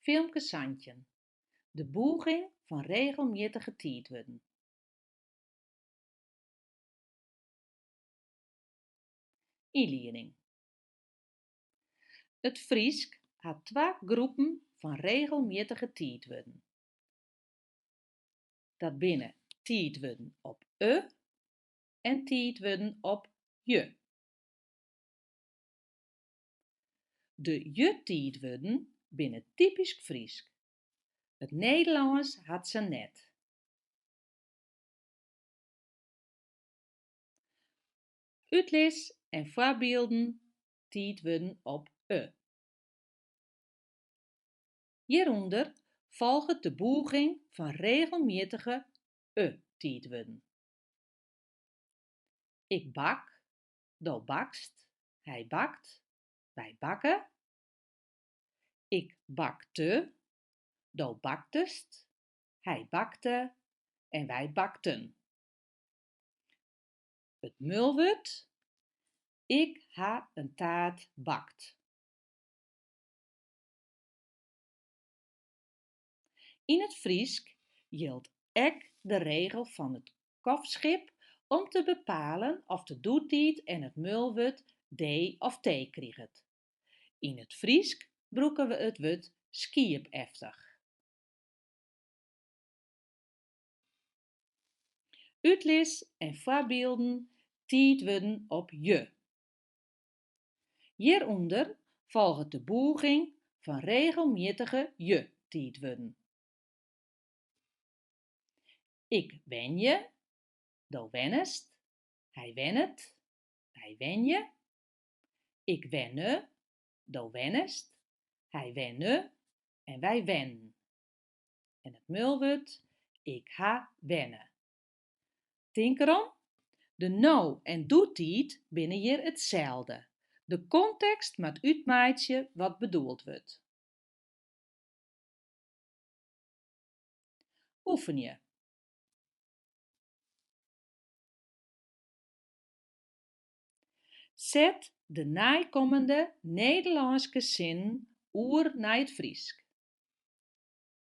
Filmke santjin, De bûging fan regelmjittige tiidwurden. Ynlieding. It Frysk hat twa groepen fan regelmjittige tiidwurden. Dat binne tiidwurden op e en tiidwurden op je. De je-tiidwurden binne typysk Frysk. It Nederlânsk hat se net. Utlis en foarbylden tiidwurden op e. Hjirûnder folget de bûging fan regelmjittige e-tiidwurden. Ik bak, Do bakst, hy bakt, wy bakke. Ik bakte, do baktest, hy bakte en wy bakten. It mulwurd, Ik ha in taart bakt. Yn it Frysk jildt ek de regel fan it kofschip om te bepalen oft de doetiid en it mulwurd dee of tee kriget. Yn it Frysk brûke we it wurd skiepeftich. Utlis en foarbylden tiidwurden op je. Hjirûnder folget de bûging fan regelmjittige je-tiidwurden. Ik wenje, do wennest, hy wennet, wy wenje, ik wenne, do wennest, hy wenne en wy wennen. En it mulwurd, ik ha wenne. Tink derom, de no- en doetiid binne hjir itselde. De kontekst moat útmeitsje wat bedoeld wurdt. Oefenje. Set de neikommende Nederlânske sinnen oer nei it Frysk.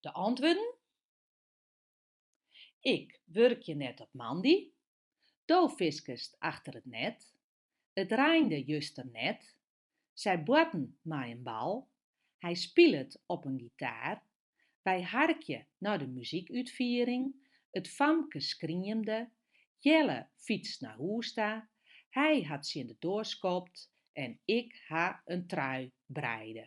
De antwurden? Ik wurkje net op moandei. Do fiskest achter it net. It reinde juster net. Sy boarten mei in bal. Hy spilet op in gitaar. Wy harkje nei de muzykútfiering, It famke skriemde, Jelle fytst nei hûs ta, Hy hat tsjin de doar skopt en Ik ha in trui breide.